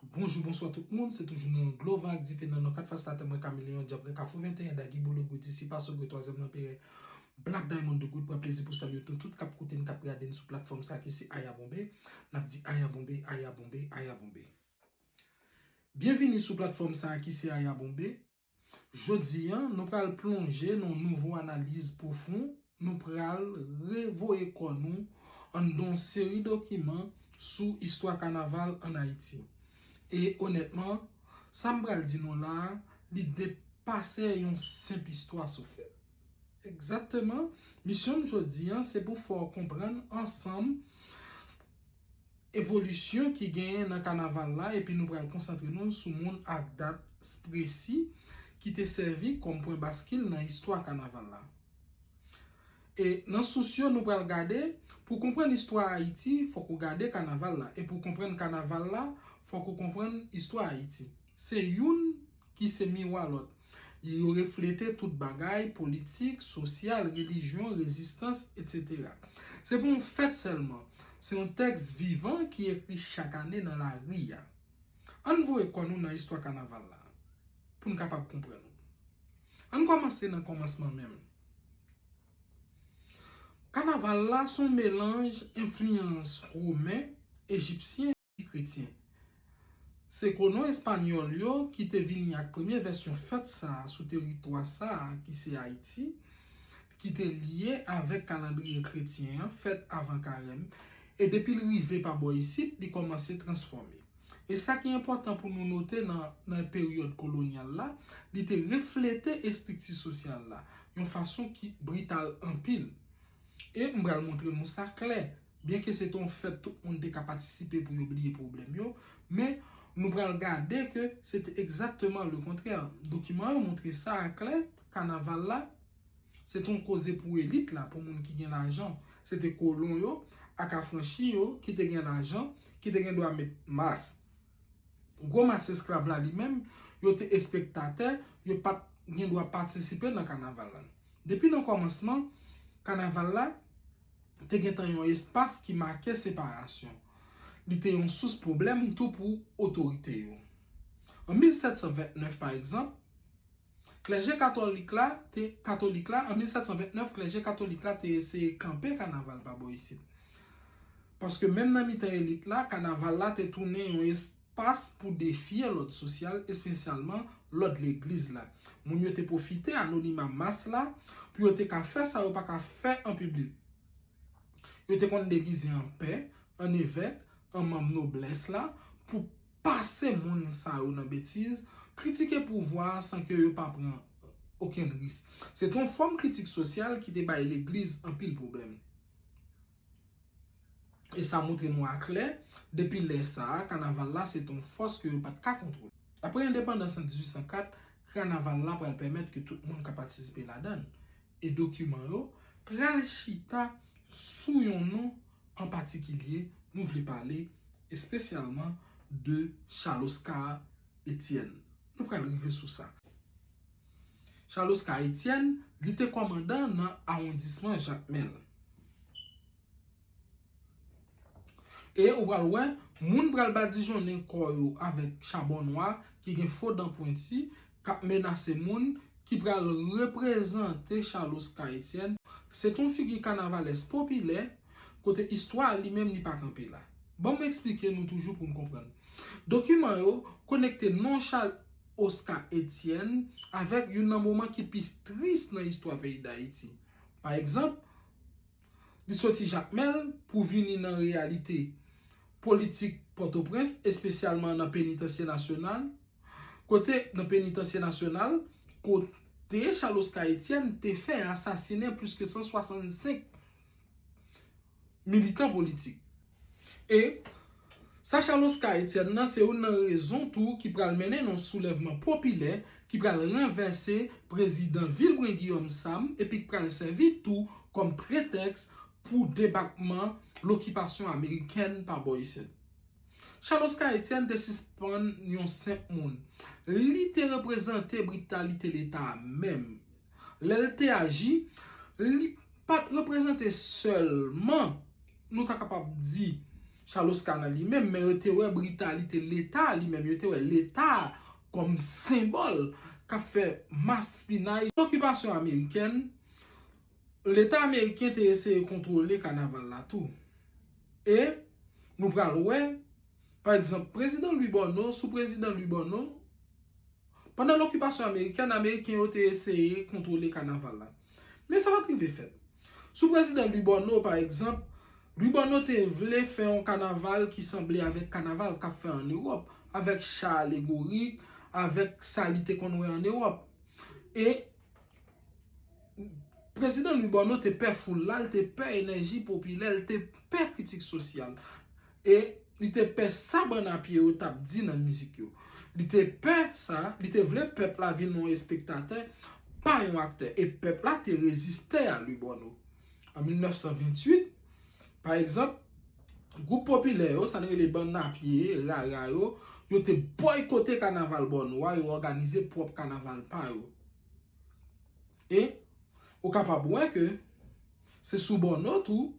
Bonjou bonswa tout moun se toujou nan dlo van ak dife nan nan 4 fas latè mwen kameleyon djab rèk afro 21 dagi bolo gou disip aso gou twazyèm lanperè Black Diamond de goud pran plezi pou salye nou tout kap koute n kap gade n sou platfòm sa ki se aya bonbe nap di aya bonbe aya bonbe aya bonbe byenvini sou platfòm sa ki se aya bonbe Jodi an, nou pral plonje nan yon nouvo analiz pwofon, nou pral re voye kò nou anndan yon seri dokiman sou istwa kanaval an Ayiti. E onètman, sa m pral di nou la a, li depase yon senp istwa sou fè. Egzakteman, misyon m jodi an se pou fè w konprann ansanm, evolisyon ki genyen nan kanaval la epi nou pral konsantre nou sou moun ak dat spresi ki te sèvi kòm pwen baskil nan istwa kanaval la. E nan sous yo nou pral gade, pou konprann istwa Ayiti fòk ou gade kanaval la, e pou konprann kanaval la fòk ou konprann istwa Ayiti. Se youn ki se miwa lòt. Yo reflete tout bagay, politik, sosyal, relijyon, rezistans, etc. Se pa yon fèt sèlman, se yon tèks vivan ki ekri chak ane nan lari a. An n voye kò nou nan istwa kanaval la pou n kapab konprann. An n kòmanse nan kòmansman menm. Kanaval la se yon melanj enfliyans women, ejipsyen. Kretyen. Se kolon espanyòl yo ki te vini ak premye vèsyon fèt sa a sou teritwa sa a ki se Ayiti, ki te lye avèk kalandriye kretyen an fèt avan Karèm, e depi l rive pa bò isit li kòmanse transfòme. E sa ki enpòtan pou nou note nan peryòd kolonyal la, li te reflete estrikti sosyal la yon fason ki brital anpil. E m pral montre nou sa klè. Byenke se te yon fèt tout moun te ka patisipe pou yo bliye pwoblèm yo, men, nou pral gade ke se te egzakteman le kontrè. Dokiman yo montre sa a klè, kanaval la, se te yon koze pou elit la, pou moun ki gen lajan. Se te kolon yo ak afranchi yo ki te gen lajan, ki te gen dwa met mas. Gwo mas esklav la li menm, yo te espektatè, yo pa t gen dwa patisipe nan kanaval la. Depi nan kòmansman, kanaval la. te gen tan yon espas ki make separasyon. Li te yon sous pwoblèm tou pou otorite yo. An 1729, pa egzanp, klèje katolik la te katolik la, an 1729, klèje katolik la te eseye kanpe kanaval pa bò isit. Paske menm nan mitan elit la, kanaval la te tounen yon espas. Pas pou defye lòd sosyal, espesyalman lòd legliz la. Moun yo te pwofite anonima mas la pou yo te ka fè sa yo pa ka fè an piblik. Yo te konn degize an pè, an evèk, an manm noblès la pou pase moun sa yo nan betiz, kritike pouvwa a san ke yo pa pran okenn risk. Se te yon fòm kritik sosyal ki te bay legliz anpil pwoblèm. e sa montre nou aklè, depi lè sa a, kanaval la se te yon fòs ke yo pa t ka kontwole. Apre endepandans an 1804, kanaval la pral pèmèt ke tout moun ka patisipe ladan l, e dokiman yo pral chita sou yon non an patikilye, nou vle pale espesyalman de Charles Oscar Etienne. Nou pral rive sou sa. Charles Oscar Etienne, li te kòmandan nan awondisman Jakmèl. E ou pral wè, moun pral badijonnen kò yo avèk chabon nwa ki gen fo dan pwenti, k ap menase moun, ki pral reprezante Charles Oscar Etienne. Se te yon figi kanavalès popilè, kote istwa li menm li pa kanpe la. Ban m esplike nou toujou pou n konprann. Dokiman yo konekte non Charles. Oscar Etienne avèk youn nan moman ki pi tris nan istwa peyi Dayiti. Pa egzanp, li soti Jakmèl pou vini nan reyalite politik Pòtoprens, espesyalman nan Penitansye Nasyonal, kote nan Penitansye Nasyonal, kote Charles Oscar Etienne te fè asasinen plis ke 165 militan politik. E, sa Chal Oska Etyèn nan se youn nan rezon tou ki pral mennen nan soulèvman popilè ki pral ranvèse prezidan Vilbrun Guillaume Sam epi k pral sèvi tou kòm pretèks pou debakman lokipasyon amerikèn pa bò isit. Chal Oska Etyèn te sispann yon senp moun. Li te reprezante britalite leta a menm. Lè l te aji, li pa t reprezante sèlman, nou ta kapab di, Chaloska nan li menm, men yo te wè britalite Leta li menm, yo te wè Leta a kòm senbòl k ap fè maspinay. Sou okipasyon amerikèn, Leta ameriken te eseye kontwole kanaval la tou. E, nou pral wè. Pa egzanp, Prezidan Lwi Bòno, sou Prezidan Lwi Bòno, pandan lokipasyon amerikèn, Ameriken yo te eseye kontwole kanaval la. Men sa pa t rive fèt. Sou Prezidan Lwi Bòno, pa egzanp, Lwi Bòno te vle fè yon kanaval ki sanble avèk kanaval k ap fè ann Ewòp, avèk cha alegorik, avèk sa li te konn wè ann Ewòp. E Prezidan Lwi Bòno te pè foul la, l te pè enèji popilè, l te pè kritik sosyal. e li te pè sa bann a pye yo t ap di nan mizik yo. Li te pè sa, li te vle pèp la vin yon espektatè, pa yon aktè, e pèp la te reziste a li bò nou. An 1928, pa egzanp, gwoup popilè yo, sa nou rele bann a pye, rara yo, yo te bòykote kanaval bò nou a, yo òganize pwòp kanaval pa yo. E, ou kapab wè ke se sou bò nò tou,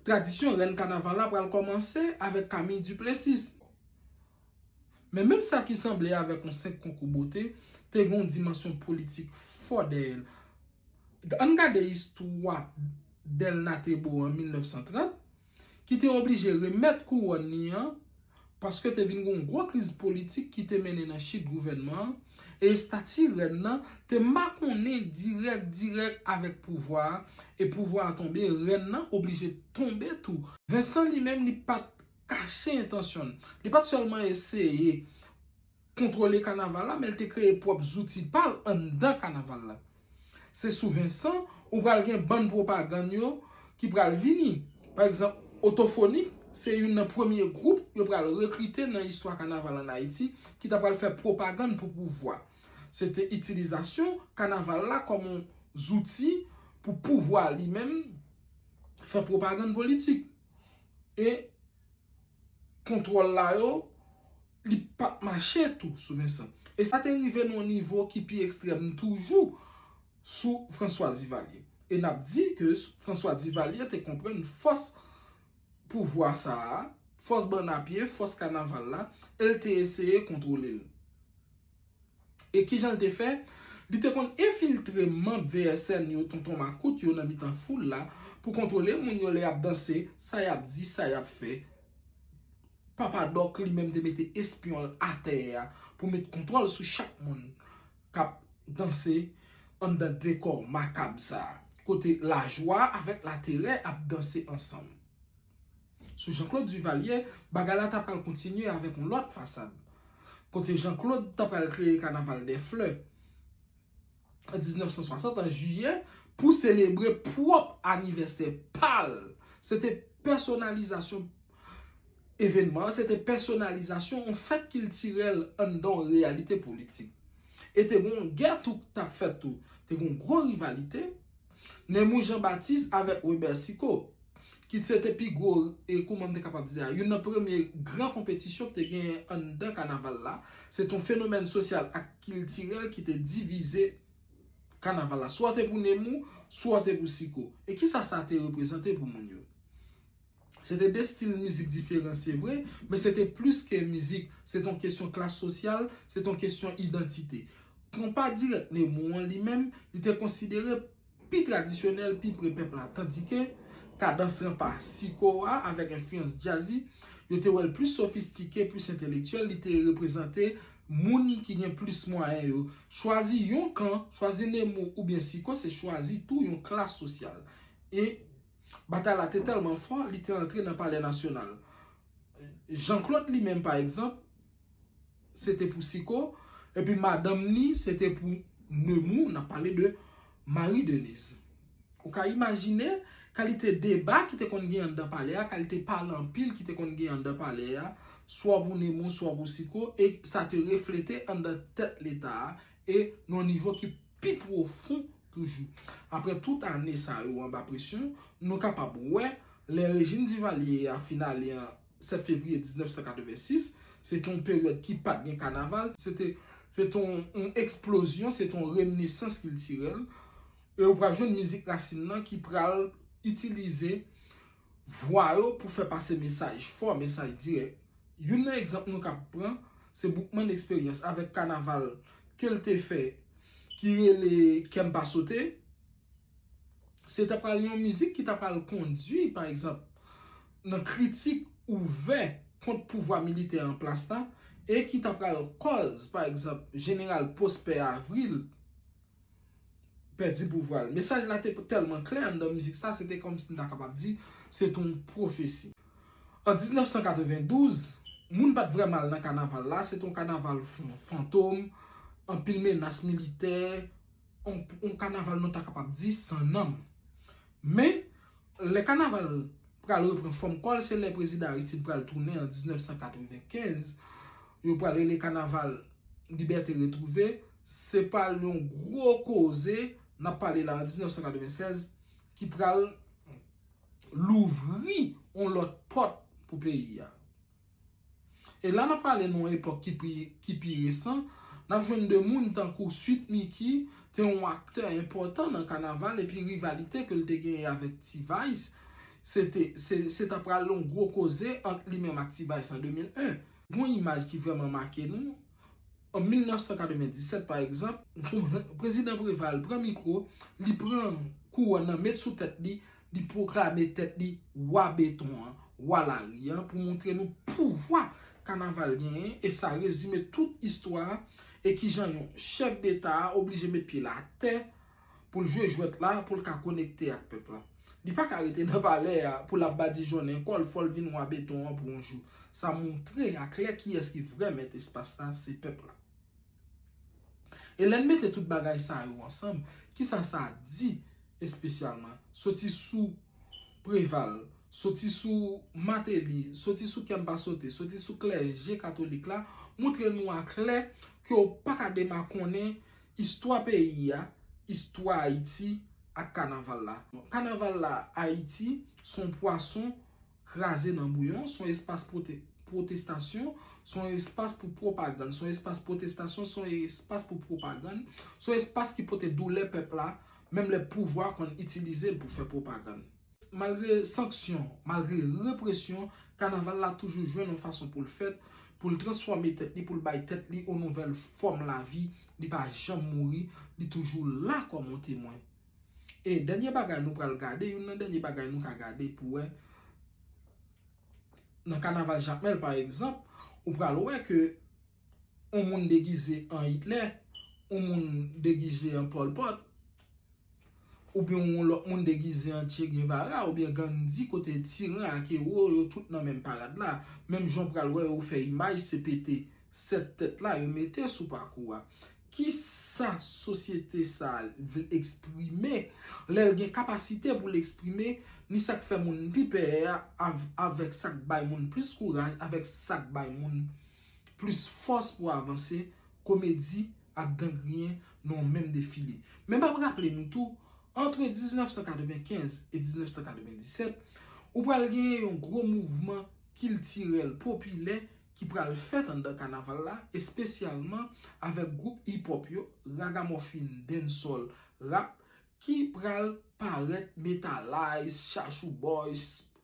tradisyon rèn kanaval la pral kòmanse avèk Camille Duplessis. Men menm sa ki sanble avèk yon senp konkou bote, te gen yon dimansyon politik fò dèyè l. Ann gade istwa Delna Thébault an 1930. ki te oblije remèt kouwòn li an paske te vin gen yon gwo kriz politik ki te mennen nan chit gouvènman an e estati rèn nan te makonnen dirèk dirèk avèk pouvwa a e pouvwa a tonbe rèn nan oblije tonbe tou. Vensan li menm li pa t kache entansyon l, li pa t sèlman eseye kontwole kanaval la men l te kreye pwòp zouti pa l anndan kanaval la. Se sou Vensan ou pral gen bann pwopagann yo ki pral vini. Pa egzanp, Otofonik se youn nan premye gwoup yo pral rekrite nan istwa kanaval ann Ayiti ki ta pral fè pwopagann pou pouvwa. Se te itilizasyon kanaval la kòm on zouti pou pouvwa li menm fè pwopagann politik. e kontwòl la yo li pa t mache tou sou Vincent. E sa te rive nan yon nivo ki pi ekstrèm toujou sou François Duvalier. E n ap di ke François Duvalier te konprann fòs pouvwa sa a, fòs bann a pye, fòs kanaval la, e l te eseye kontwole l. E ki jan l te fè? Li te konn enfiltre manb VSN yo, tonton makout yo nan mitan foul la, pou kontwole moun yo lè y ap danse, sa y ap di, sa y ap fè. Papa Dòk li menm te mete espyon l atè a pou met kontwòl sou chak moun k ap danse anndan dekò makab sa a, kote lajwa avèk laterè ap danse ansanm. Sou Jean Claude Duvalier, bagay la ta pral kontinye avèk yon lòt fasad. Kote Jean Claude ta pral kreye kanaval dè flè an 1960 an jiyè pou selebre pwòp anivèsè pa l. Se te pèsonalizasyon evènman an, se te pèsonalizasyon yon fèt kiltirèl anndan yon reyalite politik. E te gen yon gè tou k t ap fèt tou. Te gen yon gwo rivalite. Nemou Jean Baptiste avèk Weber Sicot, ki se te pi gwo, kouman m te kapab di a, youn nan premye gran konpetisyon ki te genyen anndan kanaval la, se te yon fenomèn sosyal ak kiltirèl ki te divize kanaval la. Swa w te pou Nemou, swa w te pou Sicot. E kisa sa te reprezante pou moun yo? Se te 2 stil mizik diferan se vre, men se te plis ke mizik, se te yon kesyon klas sosyal, se te yon kesyon idantite. Konpa dirèk Nemou an li menm, li te konsidere pi tradisyonèl, pi pre pèp la, tandike Kadans Ranpa, Siko a avèk enfliyans Jazzy, yo te wè l plis sofistike, plis entelektyèl, li te reprezante moun ki gen plis mwayen yo. Chwazi yon kan, chwazi Nemou oubyen Siko se chwazi tou yon klas sosyal. E. Batay la te tèlman fò, li te antre nan Palè Nasyonal. Jean Claude li menm pa egzanp, se te pou Siko, epi madanm ni se te pou Nemou, n ap pale de Marie Denise. Ou ka imajine kalite deba ki te konn gen anndan palè a, kalite pale anpil ki te konn gen anndan palè a, swa pou Nemou, swa pou Siko, e sa te reflete anndan tèt Leta a, e nan yon nivo ki pi pwofon. Toujou, apre tout ane sa yo anba presyon, nou kapab wè, lè rejim Divalye a fin ale an 7 fevriye 1986, se te yon peryòd ki pa t gen kanaval, se te yon eksplozyon, se te yon renesans kiltirèl, e ou pral jwenn mizik rasin nan ki pral itilize. Vwa yo pou fè pase mesaj fò, mesaj dirèk. Youn nan egzanp nou kab pran se Boukman Eksperyans avèk kanaval ke l te fè ki rele Kè m pa sote. Se ta pral yon mizik ki ta pral kondui pa egzanp nan kritik ouvè kont pouvwa militè an plas la e ki ta pral kòz pa egzanp Jeneral Pwospè Avril, pèdi pouvwa l. Mesaj la te tèlman klè anndan mizik sa, se te kòmsi m ta kapab di se te yon pwofesi. An 1992, moun pa t vrèman al nan kanaval la, se te yon kanaval fantom, anpil menas militè, yon kanaval nou ta kapab di san nanm. Men, lè kanaval pral repran fòm kò l, se lè Prezidan Aristide pral tounen an 1995, yo pral rele kanaval Libète Retwouve. Se pa l yon gwo koze, n ap pale la an 1996, ki pral louvri yon lòt pòt pou peyi a. E la n ap pale nan yon epòk ki pi resan, n ap jwenn de moun tankou Sweet Micky te yon aktè enpòtan nan kanaval epi rivalite ke l te genyen avèk T-Vice se ta pral yon gwo koze ant li menm ak T-Vice an 2001. Yon imaj ki vrèman make nou. An 1997, pa egzanp, Prezidan Preval pran mikwo, li pran kouwòn nan met sou tèt li, li pwoklame tèt li Wa Beton an, Wa Lari an pou montre nou pouvwa kanaval genyen e sa rezime tout istwa e kijan yon chèf deta oblije met pye l atè pou l jwe jwèt la pou l ka konekte ak pèp la. Li pa ka rete nan palè a pou l ap badijonnen kò l fò l vin wa beton an pou yon jou. Sa montre a klè kiyès ki vrè mèt espas la, se pèp la. E lè n mete tout bagay sa yo ansanm, kisa sa di espesyalman? Soti sou Preval, soti sou Mateli, soti sou Kèmpasote, soti sou klèje katolik la, montre nou a klè ke w pa ka demakonnen Istwa peyi a, istwa Ayiti ak kanaval la. Kanaval la Ayiti s on pwason kraze nan bouyon, s on espas pwotestasyon, s on espas pou pwopagann, s on espas pwotestasyon, s on espas pou pwopagann, s on espas ki pote doulè pèp la, menm lè pouvwa konn itilize l pou fè pwopagann. Malgre sanksyon, malgre represyon, kanaval la toujou jwenn yon fason pou l fèt, pou l transfòme tèt li, pou l bay tèt li yon nouvèl fòm lavi, li pa janm mouri, li toujou la kòm yon temwen. E dènye bagay nou pral gade, youn nan dènye bagay nou ka gade pou wè, nan kanaval Jakmèl pa egzanp, ou pral wè ke, yon moun degize an Hitler, yon moun degize an Pol Pot, oubyen yon lòt moun degize an Che Guevara oubyen Gandhi kote tiran ak ewo yo tout nan menm parad la. Menm jan w pral wè yo fè imaj se pete 7 tèt la yo mete sou pakou a. Ki sa sosyete sa a vle eksprime lè l gen kapasite pou l eksprime ni sa k fè moun pi pè a avèk sa k bay moun plis kouraj avèk sa k bay moun Plis fòs pou avanse, komedi ak gan griyen nan yon menm defile. Men map raple nou tou, antre 1995 e 1997, ou pral genyen yon gwo mouvman kiltirèl popilè ki pral fèt anndan kanaval la, espesyalman avèk gwoup hip hop yo, ragamòfin, dancehall, rap, ki pral parèt, Metalize, Chachou Boys,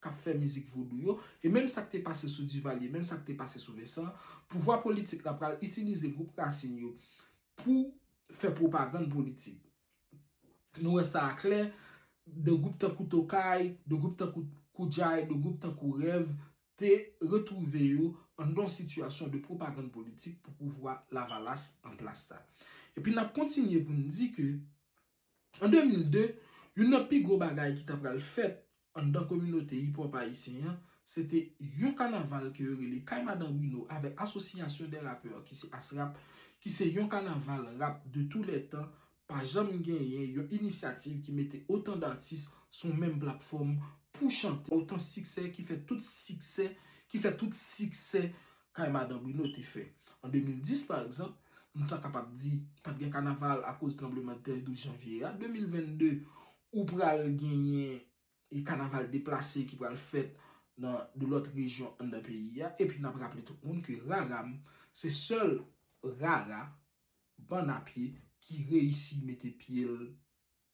k ap fè mizik vodou yo, e menm sa k te pase sou Divalye, menm sa k te pase sou Vensan, pouvwa politik la pral itilize gwoup Rasin yo pou fè pwopagann politik. Nou wè sa a klè, de gwoup tankou Tokay, de gwoup tankou Koudjay, de gwoup tankou Rèv te retwouve yo anndan yon sitiyasyon de pwopagann politik pou pouvwa Lavalas an plas la. Epi n ap kontinye pou n di ke An 2002, youn nan pi gwo bagay ki ta pral fèt anndan kominote hip hop ayisyen an, se te yon kanaval ke yo rele Kay Madan Bruno avèk Association des Rappeurs ki se Asrap, ki se yon kanaval rap de tou lè tan, pa janm genyen yon inisyativ ki mete otan datis sou menm platfòm pou chante. Otan siksè ki fè tout siksè, ki fè tout siksè kay Madan Bruno te fè. An 2010, pa egzanp, nou ta kapab di pa t gen kanaval akoz tranblemanntè 12 janvye a. 2022, ou pral genyen kanaval deplase ki pral fèt nan de lòt rejyon anndan peyi a. Epi n ap raple tout moun ke Raram se sèl rara bann a pye ki reyisi mete pye l